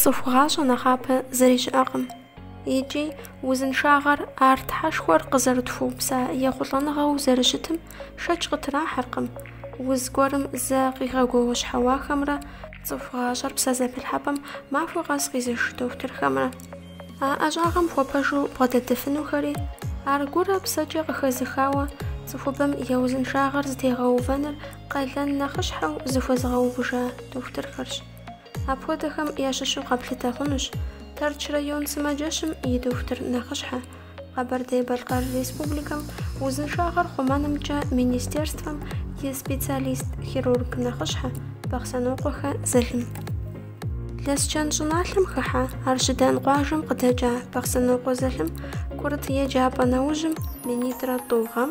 Цӏыху гъащӏэ нэхъапэ зыри щыӏэкъым. Икӏи узыншагъэр ар Тхьэшхуэр къызэрытхуэупса ехъулӏэныгъэу зэрыщытым шэч къытрахьэркъым, уз гуэрым зэ къигъэгуэуэщхьэуахэмрэ цӏыху гъащӏэр псэзэпылъхьэпӏэм махуэ къэс къизыш дохутырхэмрэ. А ӏэщӏагъэм хуэпэжу бгъэдэтыфынухэри ар гурэ псэкӏэ къыхэзыхауэ цӏыхубэм я узыншагъэр зэтегъэувэныр къалэн нэхъыщхьэу зыхуэзыгъэувыжа дохутырхэрщ. Апхуэдэхэм ящыщу къэплъытэ хъунущ Тэрч район сымаджэщым и дохутыр нэхъыщхьэ, Къэбэрдей-Балъкъэр Республикэм узыншагъэр хъумэнымкӏэ министерствэм и специалист-хирург нэхъыщхьэ Бахъсэнокъуэхэ Залим. Лэсчэн щӏыналъэм хыхьэ Арщыдан къуажэм къыдэкӏа Бахъсэнокъуэ Залим курыт еджапӏэ нэужьым, минитӏрэ тӏу гъэм,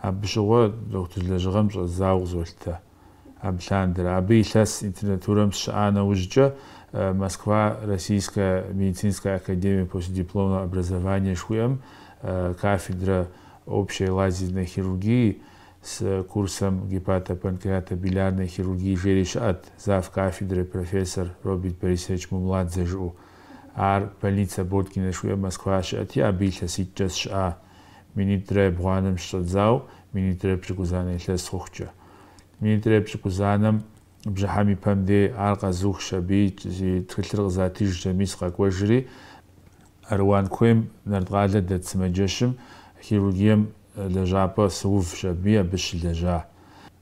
Абы щыгъуэ доктор лэжьыгъэм щӏэздзауэ къызолъытэ абы лъандэрэ. Абы илъэс интернатурэм сщыӏа нэужькӏэ Москва Российская медицинская академия постдипломного образования жыхуиӏэм кафедрэ общей лазерной хирургии с курсэм гепатопанкреатобилиарной хирургии жери щыӏэт, завкафедрэ профессор Роберт Борисович Мумладзе жыӏэу. Ар больница Боткина жыхуиӏэм Москва щыӏэти, абы илъэситӏкӏэ сщыӏа. минитӏрэ ебгъуанэм щыщӏэдзауэ минитӏрэ епщӏыкӏузанэ илъэс хъухукӏэ. Минитӏрэ епщӏыкӏузанэм бжьыхьэм и пэм дей ар къэзухщ, абы и тхылъыр къызатижщ абыми сыкъэкӏуэжри, Аруан куейм, Нарткъалэ дэт сымаджэщым, хирургием лэжьапӏэ сыувщ аби, абы сыщылэжьа.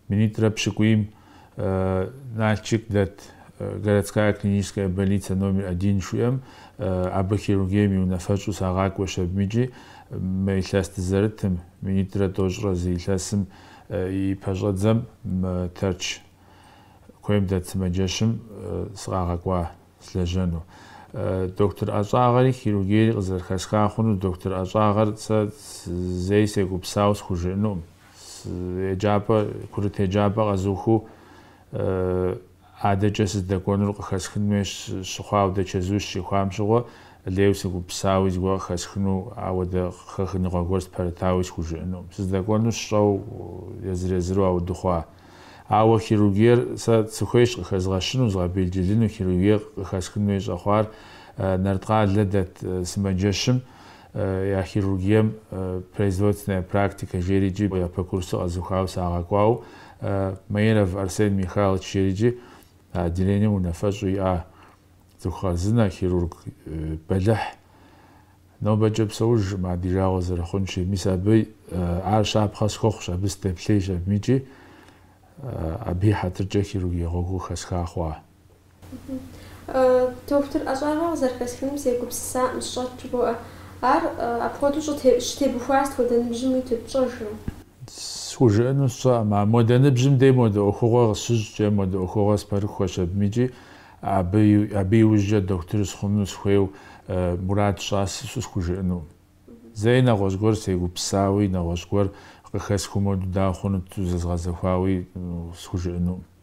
Минитӏрэ пщыкӏуийм Налчык дэт Городская клиническая больницэ номер один жыхуиӏэм абы хирургием и унафэщӏу сагъакӏуэщ абым икӏи мы илъэс дызэрытым, минитӏрэ тӏощӏрэ зы илъэсым и пэщӏэдзэм мы Тэрч куейм дэт сымаджэщым сыкъагъэкӏуа сылэжьэну. Доктор ӏэщӏагъэри хирургиери къызэрыхэсха хъунур доктор ӏэщӏагъэр сэ зэи сегупсау схужыӏэнукъым. еджапӏэ курыт еджапӏэ къэзухыу адэкӏэ сыздэкӏуэнур къыхэсхын хуей щыхъуа ауэдэ чэзу сыщихуам щыгъуэ лейуэ сыгупсауи зыгуэр къыхэсхыну ауэдэ къыхэхыныгъуэ гуэр спэрытауи схужыӏэну. Сыздэкӏуэнур сщӏэуэ езыр-езыру ауэдэ хъуа. Ауэ хирургиер сэ сыхуейщ къыхэзгъэщыну, згъэбелджылыну хирургиер къыхэсхын хуей щӏэхъуар Нарткъалэ дэт сымаджэщым я хирургием производственная практикэ жери икӏи япэ курсыр къэзухауэ сагъэкӏуау, Маиров Арсен Михайлович жери икӏи а отделением унафэщӏу иӏа цӏыху хъарзынэ, хирург бэлыхь. Нобэкӏэ псэужкъым ар ди жагъуэ зэрыхъунщи, мис абы ар щапхъэ схуэхъущ, абы сыдэплъейщ абыми икӏи абы и хьэтыркӏэ хирургие гъуэгур хэсха хъуа. Дохутыр ӏэщӏагъэ къызэрыхэсхыным сегупсысакъым, сщӏэт жыбоӏэ. Ар апхуэдэу щытебухуар сыт хуэдэ ныбжьым уиту пщӏэжрэ? Схужыӏэну сщӏэкъым, а модэ ныбжьым дей модэ ӏуэхугъуэ къысщыщӏкӏэ, модэ ӏуэхугъуэ спэрыхуэщ абым икӏи абы иужькӏэ дохутыр сыхъуну сыхуейу мурад сщӏащ жысӏэу схужыӏэнукъым. Зэи нэгъуэщӏ гуэр сегупсысауи, нэгъуэщӏ гуэр къыхэсхыу моду дауэ хъунут зэзгъэзэхуауи схужыӏэнукъым.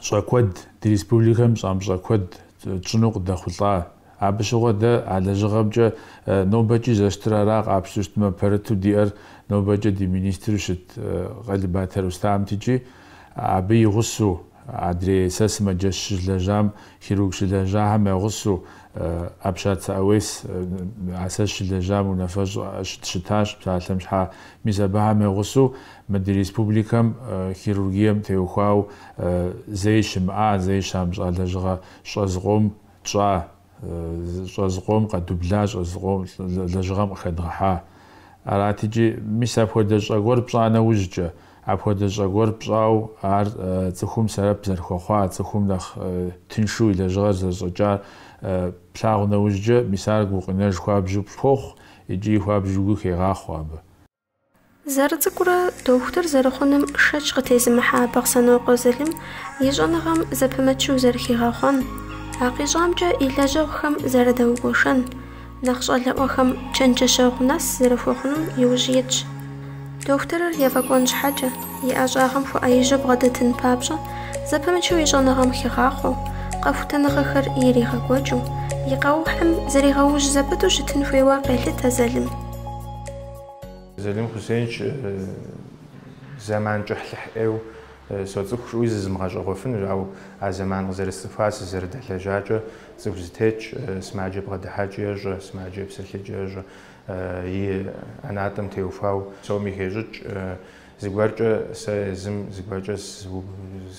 щӏэ куэд, ди республикэм щамыщӏэ куэд тщӏыну къыдэхъулӏа. Абы щыгъуэ дэ а лэжьыгъэмкӏэ нобэкӏи зэрыщытыр ара къапщту щытмэ, пэрыту диӏэр нобэкӏэ ди министру щыт Къэлыбатэ Рустамт икӏи, абы и гъусэу, адрей сэ сымаджэщ сыщылэжьам, хирург щылэжьахэм я гъусэу, Апщацэ Ауес, а сэ сыщылэжьам унафэщӏ щыт, щытащ псалъэм щхьа, мис абыхэм я гъусэу Мы ди республикэм хирургием теухуау зэи щымыӏа, зэи щамыщӏа лэжьыгъэ щӏэ зыкъом тщӏа, щӏэ зыкъом къэдубла, щӏэ зыкъом лэжьыгъэм къыхэдгъэхьа. Арат икӏи, мис апхуэдэ щӏэ гуэр пщӏа нэужькӏэ, апхуэдэ щӏэ гуэр пщӏау ар цӏыхум сэбэп зэрыхуэхъуа, цӏыхум нэхъ тыншу и лэжьыгъэр зэрыщӏэкӏар плъагъу нэужькӏэ, мис ар гукъинэж хуабжьу пхуохъу икӏи хуабжьу гу хегъахъуэ абы. Зэрыцӏыкӏурэ дохутыр зэрыхъуным шэч къытезымыхьа Бахъсэнокъуэ Залым и щӏэныгъэм зэпымычу зэрыхигъэхъуэн, а къищӏамкӏэ и лэжьэгъухэм зэрыдэгуэшэн, нэхъ щӏалэӏуэхэм чэнджэщэгъу нэс зэрыхуэхъунум иужь итщ. Дохутырыр ефӏэкӏуэн щхьэкӏэ, и ӏэщӏагъэм хуэӏэижьу бгъэдэтын папщӏэ, зэпымычу и щӏэныгъэм хигъахъуэу, къэхутэныгъэхэр иригъэкӏуэкӏыу, и къэухьым зригъэужь зэпыту щытын хуейуэ къелъытэ Залым. Залим Хусейнович, зэман кӏыхьлӏыхь ӏейуэ соцӏыху жысӏэуи зызымыгъэщӏэгъуэфынущ, ауэ а зэман къызэрысцӏыхуар, сызэрыдэлэжьакӏэ цӏыху зэтетщ, сымаджэ бгъэдыхьэкӏи ещӏэ, сымаджэ псэлъэкӏи ещӏэ, и ӏэнатӏэм теухуауэ псоми хещӏыкӏ. Зыгуэркӏэ сэ езым зыгуэркӏэ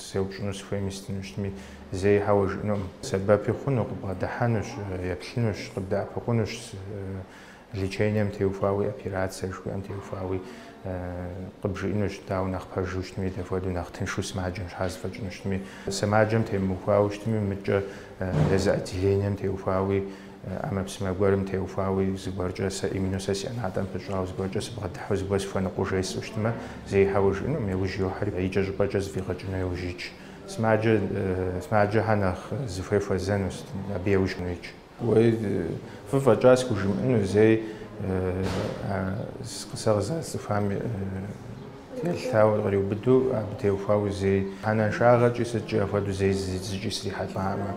сеупщӏыну сыхуейми сытыну щытми зэи хьэуэ жиӏэнукъым. Сэбэпи хъуну, къыбгъэдыхьэнущ, еплъынущ, къыбдэӏэпыкъунущ. Лечением теухуауи, операцие жыхуиӏэм теухуауи къыбжиӏэнущ, дауэ нэхъ пэжу щытми, дапхуэдэу нэхъ тыншу сымаджэм щхьа зэфӏэкӏыну щытми. Сымаджэм темыухуауэ щытми, мыдкӏэ езы отделением теухуауи, ӏэмэпсымэ гуэрым теухуауи, зыгуэркӏэ сэ именно сэ си ӏэнатӏэм пыщӏауэ, зыгуэркӏэ сыбгъэдыхьэу, зыгуэр сыхуэныкъуэу жесӏэу щытмэ, зэи хьэуэ жиӏэнукъым, яужь йохьэри, икӏэщӏыпӏэкӏэ зэфӏигъэкӏыну яужь итщ. Сымаджэ, сымаджэхьэр нэхъ зыхуей хуэзэну щытми, абы яужь итщ. Уей, фӏы фӏэкӏа схужымыӏэну зэи а къысэгъза цӏыхуам телъауэ къриубыду абы теухуауэ зэи. Хьэлыншагъэкӏи сыткӏи апхуэдэу зэи зыкӏи срихьэлӏакъым,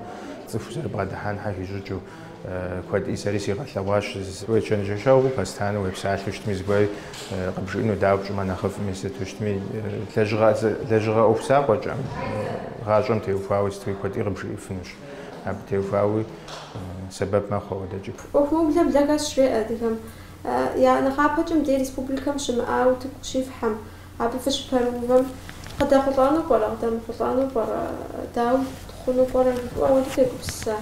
цӏыху зэрыбгъэдыхьэн хуей щӏыкӏэу куэди сэри сигъэлъэгъуащ, уечэнджэщу постоянно уепсалъэу щытми зыгуэри къыбжиӏэну, дауэ пщӏымэ нэхъыфӏми сыту щытми, лэжьыгъэ ӏуэху закъуэкӏэм, гъащӏэм теухуауэ сытуи куэди къыбжиӏэфынущ. Абы теухуауи сэбэп мэхъу ауэдэкӏэ. ӏуэху мыублэ блэ хэсщ жеӏэ адыгэм. Я нэхъапэкӏэ мыдей республикэм щымыӏа утыку щифхьэм, абы фыщыпэрыувэм, къыдэхъулӏэну пӏэрэ, къыдэмыхъулӏэну пӏэрэ, дауэ хъуну пӏэрэ жыпӏэу ауэдэ фегупсыса?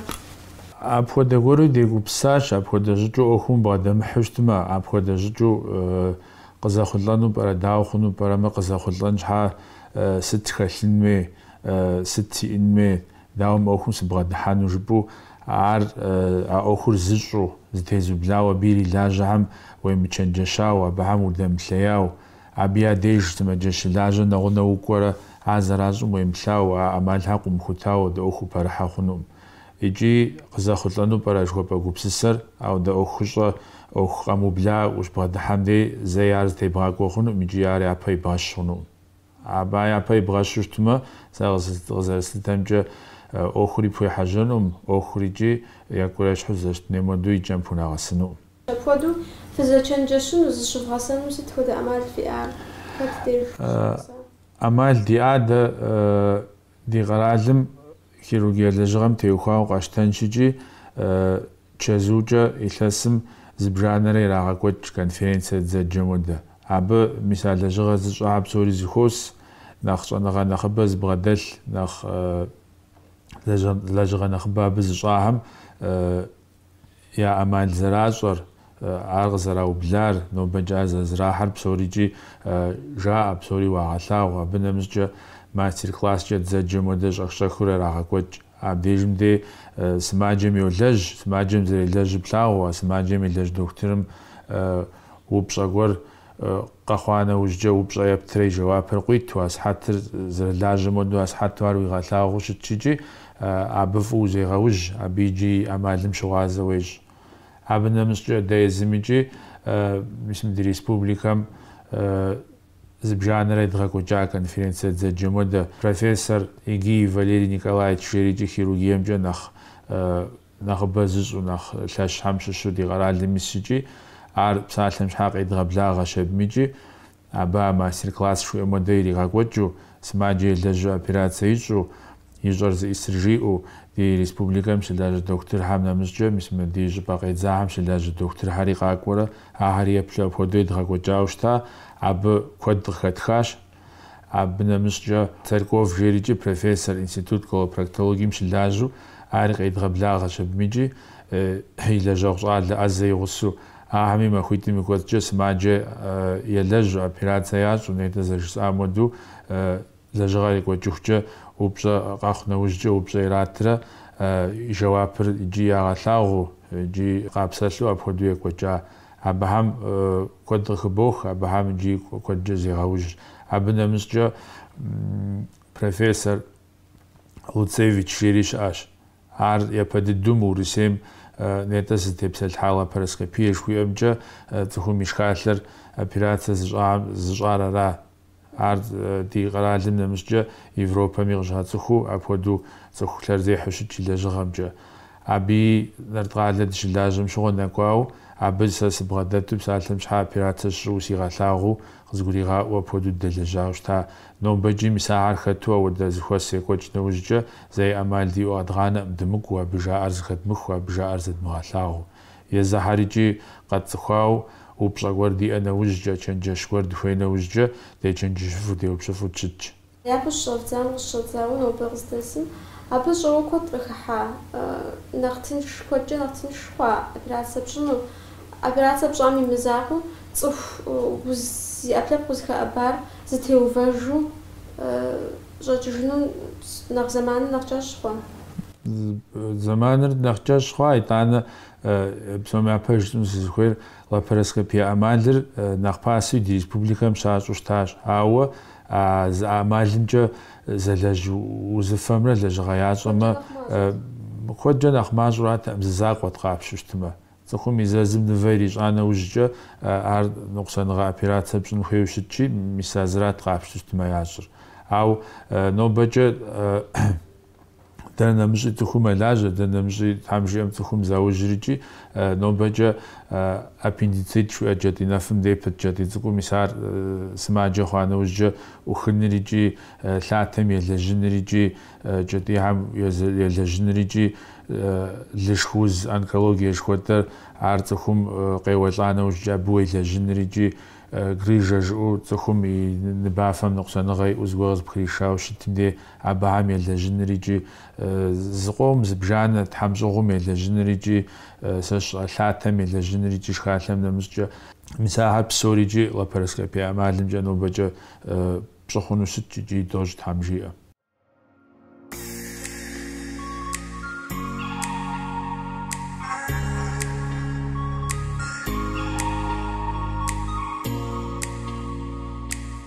Апхуэдэ гуэри дегупсысащ, апхуэдэ щӏыкӏэу ӏуэхум бгъэдэмыхьу щытмэ, апхуэдэ щӏыкӏэу къызэхъулӏэну пӏэрэ, дауэ хъуну пӏэрэ, мыр къызэхъулӏэн щхьа сыт хэлъын хуей, сыт сиӏын хуей, Дауэ мы ӏуэхум сыбгъэдыхьэну жыпӏэу, ар, а ӏуэхур зыщӏэу, зэтезублауэ абы ирилажьэхэм уемычэнджэщауэ, абыхэм удэмыплъеяуэ, абы я деж сымаджэ щылажьэ нэгъунэ укӏуэрэ а зэращӏым уемыплъауэ, а ӏэмалхэр къыумыхутауэ дэ ӏуэху упэрыхьэ хъунукъым. Икӏи къызэхъулӏэну пӏэрэ жыхуэпӏэ гупсысэр, ауэдэ ӏуэхущӏэ, ӏуэху къэмыубла ущыбгъэдыхьэм дей зэи ар зытебгъакӏуэ хъунукъым икӏи ар япэ ибгъэщ хъунукъым. Абы япэ ибгъэщу щытмэ, сэ къызэрыслъытэмкӏэ, ӏуэхури пхуехьэжьэнум, ӏуэхур икӏи екӏурэ ещхьу зэрыщытын хуейм хуэдэу и кӏэм пхунэгъэсынукъым. Апхуэдэу фызэчэнджэщыну, зыщывгъэсэну сыт хуэдэ ӏэмал фиӏэ? Хэт деж щыщӏэпсэу? ӏэмал диӏэ, дэ Ди къэралым хирургие лэжьыгъэм теухуауэ къатщтэнщ икӏи, чэзуукӏэ илъэсым зыбжанэрэ ирагъэкӏуэкӏ конференцэ дызэджэм хуэдэ. Абы, мис а лэжьыгъэр зыщӏахэр псори зэхуос, нэхъ щӏэныгъэ нэхъыбэ зыбгъэдэлъ, нэхъ лэжьыгъэ нэхъыбэ абы зыщӏахэм я ӏэмал зэращӏэр, ар къызэраублар, нобэкӏэ ар зэрызэрахьэр псорикӏи жаӏэ, псори уагъэлъагъу. Абы нэмыщӏкӏэ мастер-класскӏэ дызэджэм уэдэ щӏэх-щӏэхыу ярагъэкӏуэкӏ. Абдежым дей сымаджэм йолэжь, сымаджэм зэрелэжьыр плъагъуу, а сымаджэм елэжь дохутырым упщӏэ гуэр Къэхъуа нэужькӏэ упщӏэ ептрэ и жэуапыр къуиту, а сыхьэтыр зэрылажьэм хуэдэу асыхьэту ар уигъэлъагъуу щытщ икӏи абы фӏыуэ узегъэужь, абы иджы и ӏэмалым щыгъуазэ уещӏ. Абы нэмыщӏкӏэ дэ езым икӏи мис мы ди республикэм зыбжанэрэ едгъэкӏуэкӏа конференцэ дызэджэм хуэдэ профессор Егиев Валерий Николаевич жери икӏи хирургиемкӏэ нэхъ нэхъыбэ зыщӏу нэхъ лъэщхьэм щыщу ди къэралым исщ икӏи, ар псалъэм щхьа къедгъэблагъэ щэбмыкӏи, абы а мастер-класс жыхуиӏэм хуэдэ иригъэкӏуэкӏыу, сымаджэ елэжьу операцэ ищӏу, ищӏэр зыӏисыр жиӏэу, ди республикэм щылажьэ дохутырхэм нэмыщӏкӏэ мис мы ди щӏыпӏэ къедзахэм щылажьэ дохутырхэри къакӏуэрэ, ахэри еплъу апхуэдэу едгъэкӏуэкӏауэ щыта, абы куэд къыхэтхащ. Абы нэмыщӏкӏэ, Царьков жерикӏи профессор, институт колопроктологием щылажьэу ар къедгъэблагъэщ абым икӏи и лэжьэгъу щӏалэ ӏэзэ игъусэу. Ахэми махуитӏым и кӏуэцӏкӏэ сымаджэ елэжьу, операцэ ящӏу, нетӏэ зэрыжысӏам хуэдэу лэжьыгъэр екӏуэкӏыхукӏэ упщӏэ къэхъу нэужькӏэ упщӏэ иратрэ и жэуапыр икӏи ягъэлъагъуу икӏи къапсэлъу апхуэдэу екӏуэкӏа Абыхэм куэд къыхыбох, абыхэм иджы куэдкӏэ зегъэужьщ. Абы нэмыщӏкӏэ профессор Луцевич жери щыӏэщ. Ар япэ дыдэум Урысейм нетӏэ зытепсэлъхьа лапароскопие жыхуиӏэмкӏэ цӏыхум и шхалъэр операцэ зыщӏар ара? Ар ди къэралым нэмыщӏкӏэ Европэми къыщацӏыхуу, апхуэдэу цӏыху лъэрызехьэу щыт и лэжьыгъэмкӏэ. Абыи Нарткъалэ дыщылажьэм щыгъуэ нэкӏуауэ, абы сэ сыбгъэдэту псалъэм щхьэ операцэ ищӏу сигъэлъагъуу, къызгуригъаӏуэу апхуэдэу дэлэжьауэ щыта. Нобэкӏи мис ахэр хэту ауэдэ зыхуэс екӏуэкӏ нэужькӏэ, зэи ӏэмал диӏэу къэдгъанэкъым, дымыкӏуу, абы жаӏэр зыхэдмыху, абы жаӏэр зэдмыгъэлъагъуу. Езыхьэр икӏи къэтцӏыхуауэ упщӏэ гуэр диӏэ нэужькӏэ, чэнджэщ гуэр дыхуей нэужькӏэ, дечэнджэщыфу, деупщӏыфу дыщытщ. Щыщӏэвдзам къыщыщӏэдзауэ нобэ къыздэсым, абы щӏэуэ куэд къыхыхьа, нэхъ тынш, куэдкӏэ нэхъ тынш хъуа операцэ пщӏыну, операцэ пщӏам и мызакъуэу цӏыхуу зи ӏэпкълъэпкъ узыхэӏэбар зытеувэжу щӏэкӏыжыну нэхъ зэманыр нэхъ кӏэщӏ хъуа? Зэманыр нэхъ кӏэщӏ хъуа, итӏанэ псом япэ жытӏэну сызыхуейр, лапароскопие ӏэмалыр нэхъ пасэу ди республикэм щащӏу щытащ. Ауэ а зы ӏэмалымкӏэ зэлэжь узыфэмрэ лэжьыгъэ ящӏэмэ куэдкӏэ нэхъ мащӏэратэкъым, зы закъуэт къапщу щытмэ. Цӏыхум и зэзым нывэ ирищӏа нэужькӏэ ар ныкъусаныгъэ операцэ пщӏын хуейуэ щытщи, мис а зырат къапщу щытмэ ящӏыр. Ауэ нобэкӏэ. Дэ нэмыщӏи цӏыху мэлажьэ, дэ нэмыщӏи, тхьэм жиӏэм, цӏыхум заужьрикӏи, нобэкӏэ аппендицит жиӏэ кӏэтӏий нэфым дей пыт кӏэтӏий цӏыкӏум, мис ар сымаджэ хъуа нэужькӏэ ӏухыныр икӏи лъатэм елэжьыныр икӏи кӏэтӏийхьэм елэжьыныр икӏи лышх уз онкологие жыхуэтӏэр, ар цӏыхум къеуэлӏа нэужькӏэ абы уелэжьыныр икӏи грыжэ жыӏэу цӏыхум и ныбафэм ныкъусаныгъэ иӏэу зыгуэр къызыпхришауэ щытым дей Абыхэм елэжьынрикӏи зыкъом, зыбжанэ тхьэмщӏыгъум елэжьынрикӏи, сэ сщӏэ, лъатэм елэжьынрикӏи шхалъэм нэмыщӏкӏэ. Мис ахэр псорикӏи лапароскопие ӏэмалымкӏэ нобэкӏэ пщӏы хъуну щытщ икӏи дощӏ Тхьэм жиӏэм.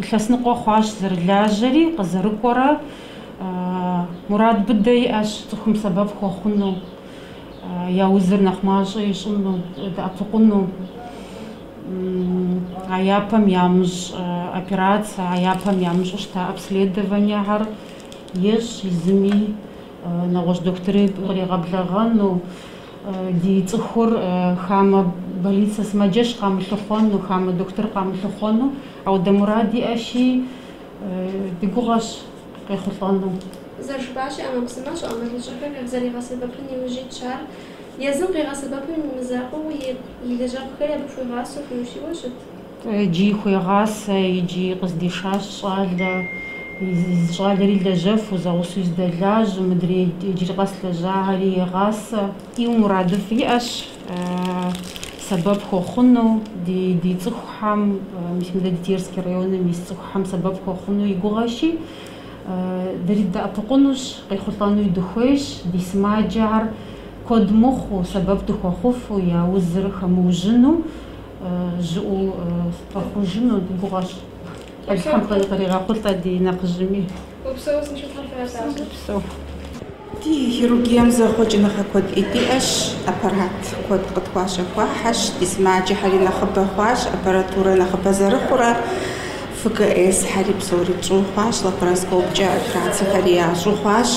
Илъэс ныкъуэ хъуащ зэрылажьэри, къызэрыкӏуэрэ. Мурад быдэ иӏэщ цӏыхум сэбэп хуэхъуну, я узыр нэхъ мащӏэ ищӏыну, дэӏэпыкъуну. А япэм ямыщӏ операцэ, а япэм ямыщӏу щыта обследованиехэр ещӏ езыми, нэгъуэщӏ дохутыри къригъэблэгъэну. Ди цӏыхур хамэ больницэ сымаджэщ къамылъыхъуэну, хамэ дохутыр къамылъыхъуэну, апхуэдэ мурад иӏэщи, ди гугъэщ къехъулӏэну. Зэрыжыпӏащи, ӏэмэпсымэщӏэ, ӏэмалыщӏэхэр къызэригъэсэбэпын иужь итщ ар. Езым къигъэсэбэпым и мызакъуэу и лэжьэгъухэри абы хуигъасэу, хуиущийуэ щыт? Иджыи хуегъасэ, иджыи къыздишащ щӏалэ. Щӏалэри лэжьэфу, зэгъусэу здэлажь, мыдрей иджыри къэс лэжьахэри егъасэ. Ӏейуэ мурадыфӏ иӏэщ, сэбэп хуэхъуну ди цӏыхухэм, мис мыдэ ди Терский районым ис цӏыхухэм сэбэп хуэхъуну и гугъэщи, дэри дыдэӏэпыкъунущ, къехъулӏэнуи дыхуейщ, ди сымаджэхэр куэд мыхъуу, сэбэп дыхуэхъуфу, я узыр хэмыужьыну, жьыуэ дгъэхъужыну ди гугъэщ. Тхьэм къригъэхъулӏэ ди нэхъыжьми. Упсэу, узыншэу Тхьэм фыралъагъу. Псэу. Ди хирургием зэхъуэкӏыныгъэ куэд дыдэ иӏэщ, аппарат куэд къытхуащэхуахьэщ, ди сымаджэхэри нэхъыбэ хъуащ, аппаратурэ нэхъыбэ зэрыхъурэ, ФКС-хэри псори тщӏыу хъуащ, лапароскопкӏэ операцэхэри ящӏу хъуащ,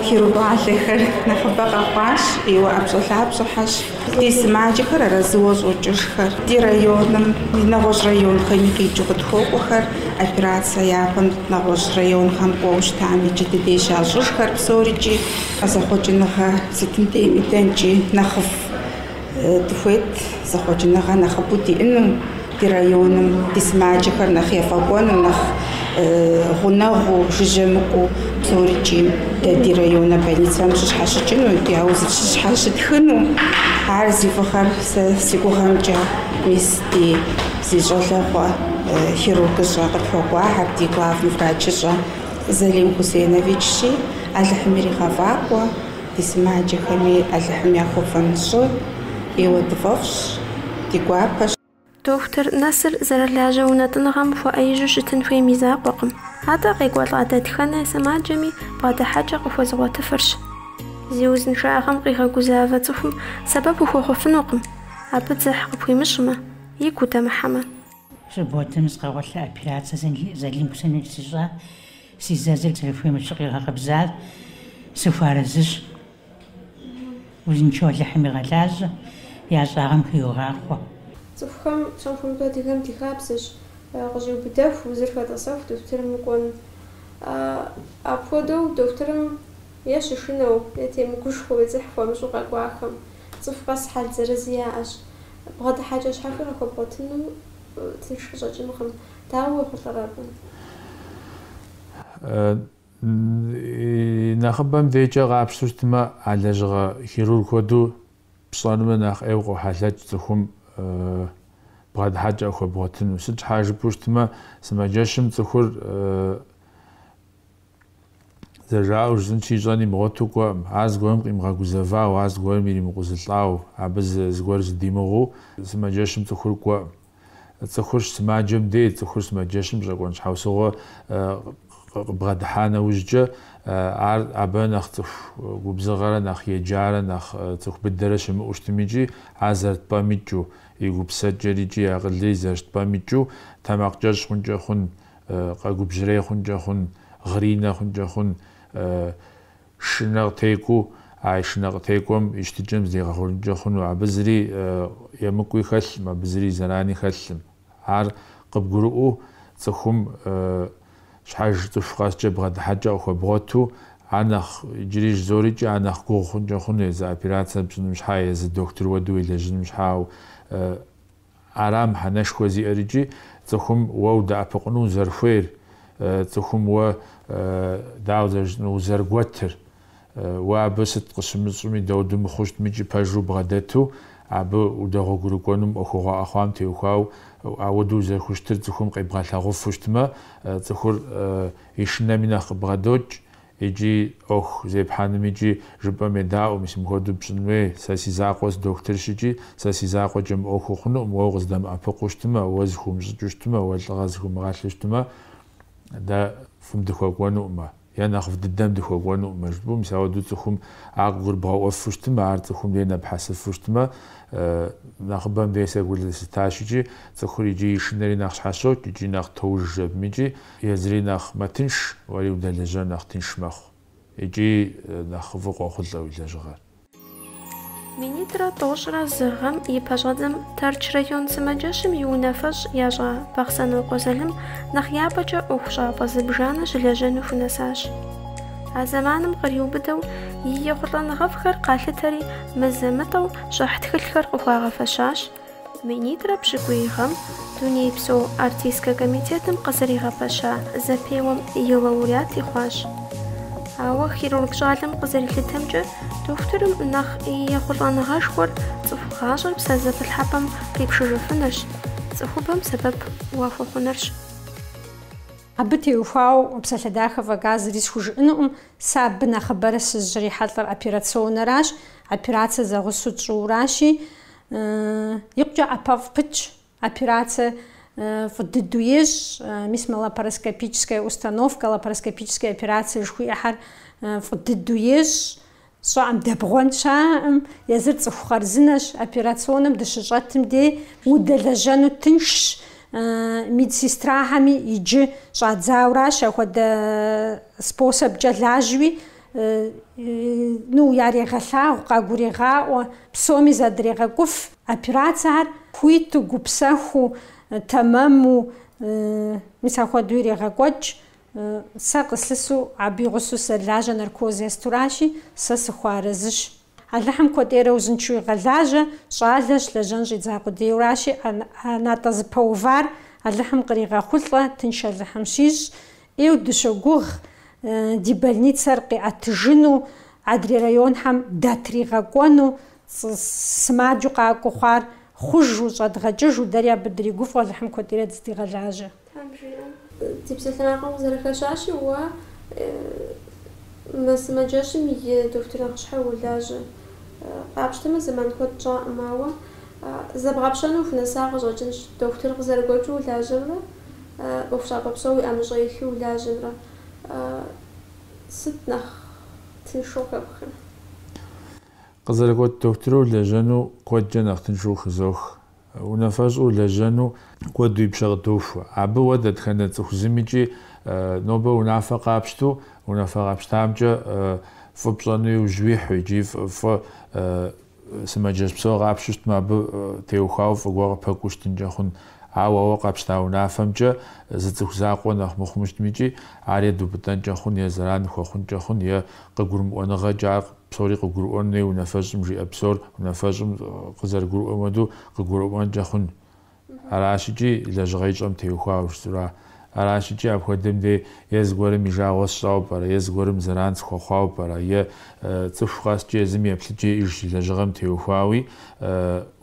хирург щӏалэхэр нэхъыбэ къэхъуащ, ӏейуэ ӏэпщӏэлъапщӏэхэщ. Ди сымаджэхэр арэзыуэ щӏокӏыжхэр, ди райоными нэгъуэщӏ районхэми къикӏыу къытхуокӏуэхэр, операцэ япэм нэгъуэщӏ районхэм кӏуэу щытам иджы ди деж ящӏыжхэр псорикӏи, зэхъуэкӏыныгъэ сытым дейми дэнкӏи нэхъыфӏ. Дыхуейт зэхъуэкӏыныгъэ нэхъыбэу диӏэну ди районым, ди сымаджэхэр нэхъ ефӏэкӏуэну, нэхъ гъунэгъуу, жыжьэ мыкӏуэу псорикӏи дэ ди районэ больницэм щыщхьэщыкӏыну икӏи я уз щыщхьэщытхыну. Ар зи фӏыгъэр сэ си гугъэмкӏэ мис ди зи щӏалэгъуэ хирургыщӏэ къытхуэкӏуахьэр, ди главный врачыщӏэ Залим Хусейновичщи, Алыхьым иригъэфӏакӏуэ. Ди сымаджэхэми Алыхьым яхуэфэн щӏы къиуэдыфӏэфӏщ, ди гуапэщ. Дохутыр нэсыр зэрылажьэ унэтӏыныгъэм хуэӏэижьу щытын хуейм и закъуэкъым, атӏэ къекӏуэлӏа дэтхэнэ сымаджэми бгъэдыхьэкӏэ къыхуэзыгъуэтыфырщ. Зи узыншагъэм къигъэгузавэ цӏыхум сэбэп ухуэхъуфынукъым, абы дзыхь къыпхуимыщӏмэ, игу удэмыхьэмэ. Субботэм сыкъэгъуэлъа операцэ Зэлим сэ сищӏа Си зэзыр зэрыхуейм ещхьу къигъэкъэбзащ, сыхуэарэзыщ. Узыншэу Алыхьым игъэлажьэ, я щӏагъэм хиугъахъуэ. Цӏыхухэм псом хуэмыдэу адыгэм ди хабзэщ, къыщӏиубыдэху, узыр хэтӏэсэху дохутырым укӏуэн. Апхуэдэу дохутырым е щышынэу, е темыгушхуэу е дзыхь хуэмыщӏу къэкӏуахэм. Цӏыху къэс хьэл зырыз яӏэщ. Бгъэдыхьэкӏэ щхьэхуи къахуэбгъуэтыну тынш къыщӏэкӏынкъым. Дауэ уехъулӏэр абы? Нэхъыбэм декӏэ къапщтэу щытмэ, а лэжьыгъэ хирург хуэдэу пщӏэным нэхъ ӏейуэ къохьэлъэкӏ цӏыхум бгъэдыхьэкӏэ къыхуэбгъуэтыну. Сыт щхьа жыпӏэу щытмэ, сымаджэщым цӏыхур Зэжаӏэу жысӏэнщи, ищӏэн имыгъуэту кӏуэкъым. Ар зыгуэрым къимыгъэгузэвау, ар зыгуэрым иримыкъузылӏау, абы зыгуэр зыдимыгъуу сымаджэщым цӏыхур кӏуэкъым. Цӏыхурщ сымаджэм дей, цӏыхур сымаджэщым щӏэкӏуэн щхьэусыгъуэ къыбгъэдыхьа нэужькӏэ, ар абы нэхъ цӏыху губзыгъэрэ нэхъ еджарэ нэхъ цӏыху быдэрэ щымыӏэу щытым икӏи, ар зэрыт пӏэм икӏыу, и гупсысэкӏэр икӏи и акъылри зэрыщыт пӏэм икӏыу тэмакъкӏэщӏ хъункӏэ хъун. къэгубжьрей хъункӏэ хъун, гъринэ хъункӏэ хъун, шынэ къытекӏуу, а шынэ къытекӏуэм и щытыкӏэм зригъэхъуэжынкӏэ хъуну, абы зыри емыкӏуи хэлъым, абы зыри зэрани хэлъым. Ар къыбгурыӏуэу цӏыхум щхьэж цӏыху къэскӏэ бгъэдыхьэкӏэ къыхуэбгъуэту, ар нэхъ, иджыри жызоӏэри икӏи, ар нэхъ гугъу хъункӏэ хъуну, езы операцэр пщӏыным щхьа, езы дохутыр хуэдэу уелэжьыным щхьа, ауэ, Ара мыхьэнэшхуэ зиӏэр икӏи цӏыхум уэ удэӏэпыкъуну узэрыхуейр, цӏыхум уэ, дауэ, зэрыжытӏэнур, узэрыгуэтыр? Уэ абы сыт къыщымыщӏми, дауду мыхъуу щытми икӏи пэжу убгъэдэту абы удэгъуэгурыкӏуэну мы ӏуэхугъуэ къэхъуам теухуауэ, ауэду узэрыхущытыр цӏыхум къебгъэлъагъуфу щытмэ, цӏыхур и шынэми нэхъ къыбгъэдокӏ. Икӏи ӏуэху зепхьэным икӏи жыпӏэм едаӏуэ, мис мыпхуэдэу пщӏын хуей, сэ си закъуэ сыдохутырщ икӏи сэ си закъуэкӏэ мы ӏуэхур хъунукъым, уэ укъыздэмыӏэпыкъуу щытмэ, уэ зыхыумыщӏыкӏыу щытмэ, уэ лӏыгъэ зыхыумыгъэлъу щытмэ, дэ фӏым дыхуэкӏуэнукъымэ, е нэхъыфӏ дыдэм дыхуэкӏуэнукъымэ, жыпӏэу, мис ауэдэу цӏыхум ар къыгурыбгъэӏуэфу щытмэ, ар цӏыхум дей нэпхьэсыфу щытмэ, нэхъыбэм дей сэ гу лъыстащ икӏи цӏыхур икӏи и шынэри нэхъ щхьэщокӏ икӏи нэхъ тоужыж абым икӏи, Езыри нэхъ мэтынш, уэри удэлэжьэн нэхъ тынш мэхъу икӏи нэхъ фӏы къохъулӏэ уи лэжьыгъэр. Минитӏрэ тӏощӏрэ зы гъэм и пэщӏэдзэм Тэрч район сымаджэщым и унафэщӏ ящӏа Бахъсэнокъуэ Залым нэхъ япэкӏэ ӏуэхущӏапӏэ зыбжанэ щылэжьэну хунэсащ. А зэманым къриубыдэу и ехъулӏэныгъэфӏхэр къалъытэри, мызэ-мытӏэу щӏыхь тхылъхэр къыхуагъэфэщащ, Минитӏрэ пщӏыкӏуий гъэм Дунейпсо артистскэ комитетым къызэригъэпэща зэпеуэм и лауреати хъуащ. Ауэ хирург щӏалэм къызэрилъытэмкӏэ, дохутырым нэхъ и ехъулӏэныгъэшхуэр цӏыху гъащӏэр псэзэпылъхьэпӏэм къипшыжыфынырщ, цӏыхубэм сэбэп уахуэхъунырщ. Абы теухуауэ псалъэ дахэ фӏэкӏа зыри схужыӏэнукъым, сэ абы нэхъыбэрэ сыщрихьэлӏэр операционнэращ, операцэ зэгъусэу тщӏыуращи, Икъукӏэ ӏэпэфӏ пытщ, операцэ фӏы дыдэу ещӏ, мис мы лапароскопическая установкэ, лапароскопическая операцэ жыхуиӏэхэр фӏы дыдэу ещӏ, щаӏым дэбгъуэн щаӏым, езыр цӏыху хъарзынэщ, операционым дыщыщӏэтым дей удэлэжьэну тыншщ, медсестрахэми иджы щӏадзауращ, ахуэдэ способкӏэ лажьэуи ну, ярегъэлъагъу, къагурегъаӏуэ, псоми задрегъэкӏуф операцэхэр хуиту, гупсэхуу, тэмэму, мис ахуэдэу ирегъэкӏуэкӏ. Сэ къыслъысу абы и гъусэу солажьэ наркоз естуращи, сэ сыхуэарэзыщ. Алыхьым куэдӏейрэ узыншэу игъэлажьэ, щӏалэщ, лэжьэн щӏидза къудейуэращи, ӏэнатӏэ зыпэувар Алыхьым къригъэхъулӏэ, тынш Алыхьым щищӏ, ӏейу дыщогугъ ди больницэр къиӏэтыжыну, адрей районхэм датригъэкӏуэну, сымаджэу къакӏуэу хъуар хъужу, щӏэдгъэкӏыжу, дэри абы дригуфӏэу, Алыхьым куэдӏейрэ дыздигъэлажьэ. Тхьэм жиӏэ, ди псалъэмакъым къызэрыхэщащи, уэ мы сымаджэщым и дохутыр нэхъыщхьэу уолажьэ. Къапщтэмэ, зэман куэд щӏакъым, ауэ зэбгъэпщэну ухунэса къыщӏэкӏынщ, дохутыр къызэрыгуэкӏыу улажьэмрэ ӏуэхущӏапӏэ псо уи ӏэмыщӏэ илъу улажьэмрэ сыт нэхъ тыншу къыхэпхрэ? Къызэрыгуэкӏ дохутыру улэжьэну куэдкӏэ нэхъ тыншу хызох. Унафэщӏу улэжьэну куэд уи пщэ къыдохуэ. Абы уэ дэтхэнэ цӏыху зымикӏи нобэ унафэ къапщту, унафэ къапщтамкӏэ фӏы пщӏэну иужь уихьу икӏи фӏы Сымаджэщ псо къапщту щытмэ, абы теухуауэ фӏы гуэр къыпэкӏуу щытынкӏэ хъун. Ауэ ауэ къапщта унафэмкӏэ зы цӏыху закъуэ нэхъ мыхъуму щытми икӏи, ар е дупӏытӏэнкӏэ хъун, е зэран ухуэхъункӏэ хъун, е къыгурымыӏуэныгъэкӏэ ар псори къыгурыӏуэн хуей унафэщӏым жиӏэ псор унафэщӏым къызэрыгурыӏуэм хуэдэу къыгурымыӏуэнкӏэ хъун. Аращ икӏи лэжьыгъэ ищӏэм теухуауэ жысӏэра? Аращ икӏи апхуэдэм де е зыгуэрым и жагъуэ сщӏауэ пӏэрэ, е зыгуэрым зэран схуэхъуауэ пӏэрэ, е цӏыху къэскӏэ езым еплъыкӏэ иӏэж лэжьыгъэм теухуауи,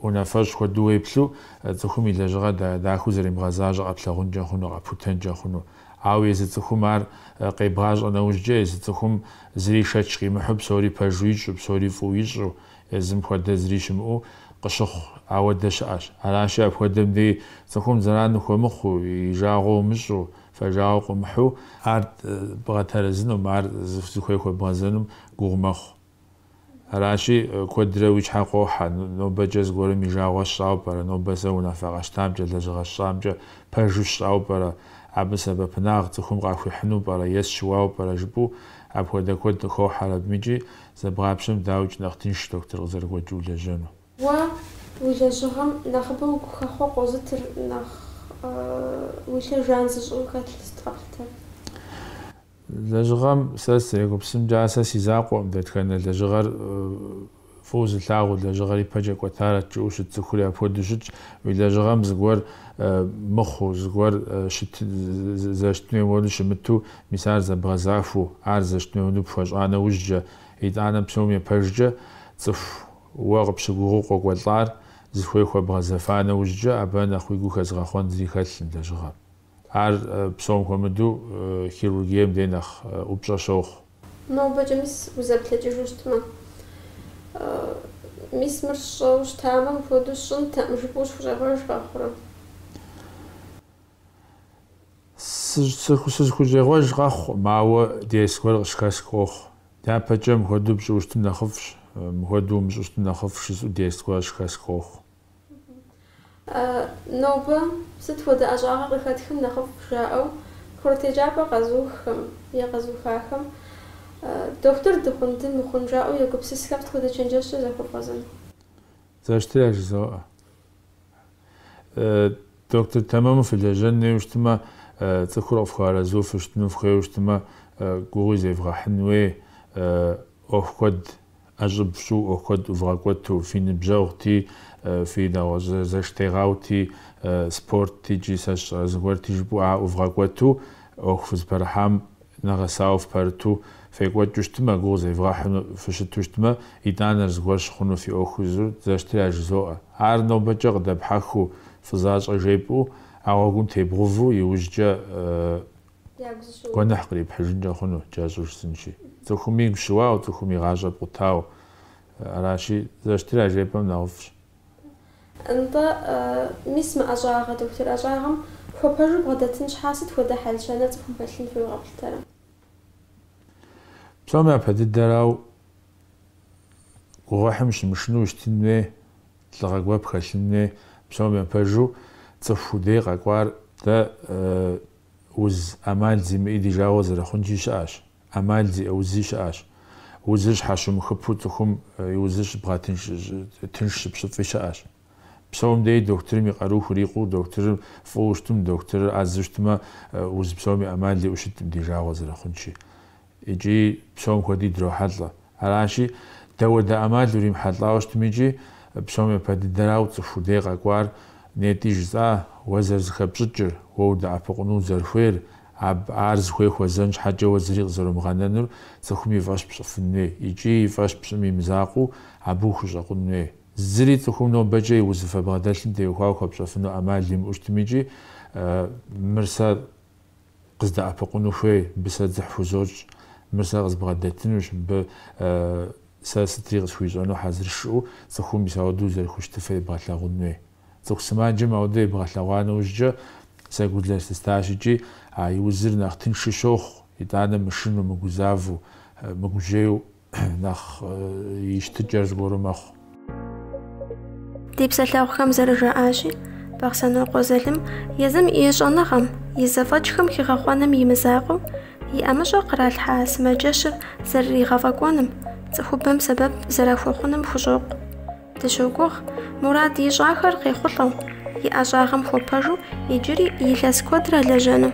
унафэщӏ хуэдэу уеплъу, цӏыхум и лэжьыгъэр дахэу зэримыгъэзащӏэ къэплъагъункӏэ хъуну, къэпхутэнкӏэ хъуну. Ауэ езы цӏыхум ар къебгъащӏэ нэужькӏэ, езы цӏыхум зыри шэч къимыхьу, псори пэжу ищӏу, псори фӏыуи ищӏу, Езым хуэдэ зыри щымыӏэу къыщыхъу ауэдэ щыӏэщ. Аращи, апхуэдэм деи цӏыхум зэран ухуэмыхъуу, и жагъуэ умыщӏу, фэжагъуэ къыумыхьу, ар бгъэтэрэзынум, ар зыхуей хуэбгъэзэнум гугъу мэхъу. Аращи, куэдрэ уи щхьэ къохьэ, Нобэкӏэ зыгуэрым и жагъуэ сщӏауэ пӏэрэ, нобэ сэ унафэ къэщтамкӏэ, лэжьыгъэ сщӏамкӏэ пэжу сщӏауэ пӏэрэ, абы сэбэпынагъ цӏыхум къахуихьыну пӏэрэ е сыщыуауэ пӏэрэ жыпӏэу апхуэдэ куэд къыхохьэр абым икӏи Зэбгъапщэм, дауикӏ, нэхъ тыншщ доктор къызэрыгуэкӏыу улэжьэну. Уэ уи лэжьыгъэм нэхъыбэу гухэхъуэ къозытыр нэхъ уи лъэр жан зыщӏу хэлъу сыт къэплъытэр? Лэжьыгъэм сэ сызэрегупсысымкӏэ, ар сэ си закъуэкъым, дэтхэнэ лэжьыгъэр фӏыуэ зылъагъуу, лэжьыгъэр ипэкӏэ кӏуэтарэт жыӏэу щыт цӏыхури апхуэдэу щытщ, уи лэжьыгъэм зыгуэр мыхъуу, зыгуэр зэрыщытын хуейм хуэдэу щымыту Мис ар зэбгъэзахуэу, ар зэрыщытын хуейуэ пхуэщӏа нэужькӏэ, итӏанэ псом епэжкӏэ цӏыху уэ къыпщыгугъыу къокӏуэлӏар зыхуей хуэбгъэзэфа нэужькӏэ, абы нэхъ уи гу хэзыгъэхъуэн зыри хэлъкъым, лэжьыгъэ. Ар псом хуэмыдэу хирургием дей нэхъ ӏупщӏэ щохъу. Нобэкӏэ мис узэплъэкӏыжу щытмэ. Мис мыр сщӏэу щытамэ, мыпхуэдэу сщӏынтэкъым, жыпӏэу узыхущӏегъуэж къэхъурэ? Сызыхущӏегъуэж къэхъукъым, ауэ дерс гуэр къыщыхэсх къохъу. Дяпэкӏэ мыхуэдэу пщӏыуэ щытым нэхъыфӏщ, мыхуэдэу умыщӏэу щытым нэхъыфӏщ жысӏэу дерс гуэр къыщыхэсх къохъу. Нобэ сыт хуэдэ ӏэщӏагъэ къыхэтхым нэхъыфӏ жаӏэу курыт еджапӏэ къэзуххэм е къэзухахэм дохутыр дыхъун, дымыхъун жаӏэу егупсысхэ сыт хуэдэ чэнджэщкӏэ захуэбгъэзэн? Зэрыщытыр яжызоӏэ. Доктор тэмэму фылэжьэн хуейуэ щытмэ, цӏыхур къыфхуэарэзу фыщытыну фыхуейуэ щытмэ, гугъуи зевгъэхьын хуей, ӏуэху куэд ӏэщӏыб фщӏу, ӏуэху куэд ӏувгъэкӏуэту, фи ныбжьэгъути, фи нэгъуэщӏ зэштегъэути, спортти икӏи сэ сщӏэрэ зыгуэрти жыпӏэу ар ӏувгъэкӏуэту ӏуэху фызыпэрыхьам Нэгъэсауэ фыпэрыту фекӏуэкӏыу щытмэ, гугъу зевгъэхьыну фыщыту щытмэ, итӏанэр зыгуэр щыхъуну фи ӏуэху езыр зэрыщытыр яжызоӏэ. Ар нобэкӏэ къыдэпхьэхыу фӏы защӏэ жепӏэу, а гъуэгум тебгъэувэу иужькӏэ гуэныхь кърипхьыжынкӏэ хъуну кӏэщӏу жысӏэнщи. Цӏыхум игу щыуауэ, цӏыхум и гъащӏэ пкъутауэ. Аращи, зэрыщытыр яжепӏэм нэхъыфӏщ. Нтӏэ, мис мы ӏэщӏагъэ, дохутыр ӏэщӏагъэм хуэпэжу бгъэдэтын щхьа сыт хуэдэ хьэл-щэнэр цӏыхум хэлъын хуейуэ къэплъытэрэ? Псом япэ дыдэрау гугъуехьым щымышынэу щытын хуей, лӏыгъэ гуэр пхэлъын хуей. Псом япэжу цӏыху уи дей къэкӏуар дэ уз ӏэмал зимыӏи ди жагъуэ зэрыхъункӏи щыӏэщ, ӏэмал зиӏэ узи щыӏэщ. Узыр щхьэщумыхыпу цӏыхум и узыр щыбгъэтынш, тынш щыпщӏыфи щыӏэщ. Псом деи дохутырым и къару хурикъуу, дохутырыр фӏыуэ щытым, дохутырыр ӏэзэу щытмэ, уз псоми ӏэмал иӏэу щыткъым ди жагъуэ зэрыхъункӏи. Икӏи псом хуэди дрохьэлӏэ. Аращи, дауэдэ ӏэмал уримыхьэлӏауэ щытмикӏи, псом япэ дыдэрау цӏыху уи дей къэкӏуар нетӏи жысӏа, уэ зэрызыхэпщӏыкӏыр, уэ удэӏэпыкъуну узэрыхуейр, аб ар зыхуей хуэзэн щхьэкӏэ уэ зыри къызэромыгъэнэнур цӏыхум и фӏэщ пщӏыфын хуей икӏи и фӏэщ пщӏым и мызакъуэу абы ухущӏэкъун хуей. Зыри цӏыхум нобэкӏэ и узыфэ бгъэдэлъым теухуауэ хуэпщӏэфыну ӏэмал имыӏэу щытмикӏи, мыр сэ. къыздэӏэпыкъуну хуей, мыбы сэ дзыхь хузощӏ, мыр сэ къызбгъэдэтынущ, мыбы сэ сытри къысхуищӏэну хьэзырщ жиӏэу цӏыхум мис ауэдэу узэрыхущытыфыр ебгъэлъагъун хуей. Цӏыху сымаджэм ауэдэ ебгъэлъэгъуа нэужькӏэ сэ гу зэрылъыстащ икӏи а и узыр нэхъ тыншу щохъу, итӏанэ мышынэу, мыгузавэу, мыгужьейу нэхъ и щытыкӏэр зыгуэру мэхъу. Ди псалъэгъухэм зэрыжаӏащи, Бахъсэнокъуэ Залым езым и щӏэныгъэм, и зэфӏэкӏхэм хигъэхъуэным и мызакъуэу, и ӏэмыщӏэ къралъхьа сымаджэщыр зэрыригъэфӏэкӏуэным, цӏыхубэм сэбэп зэрахуэхъуным хущӏокъу. Дыщогугъ, мурад ищӏахэр къехъулӏэу, и ӏэщӏагъэм хуэпэжу иджыри илъэс куэдрэ лэжьэну.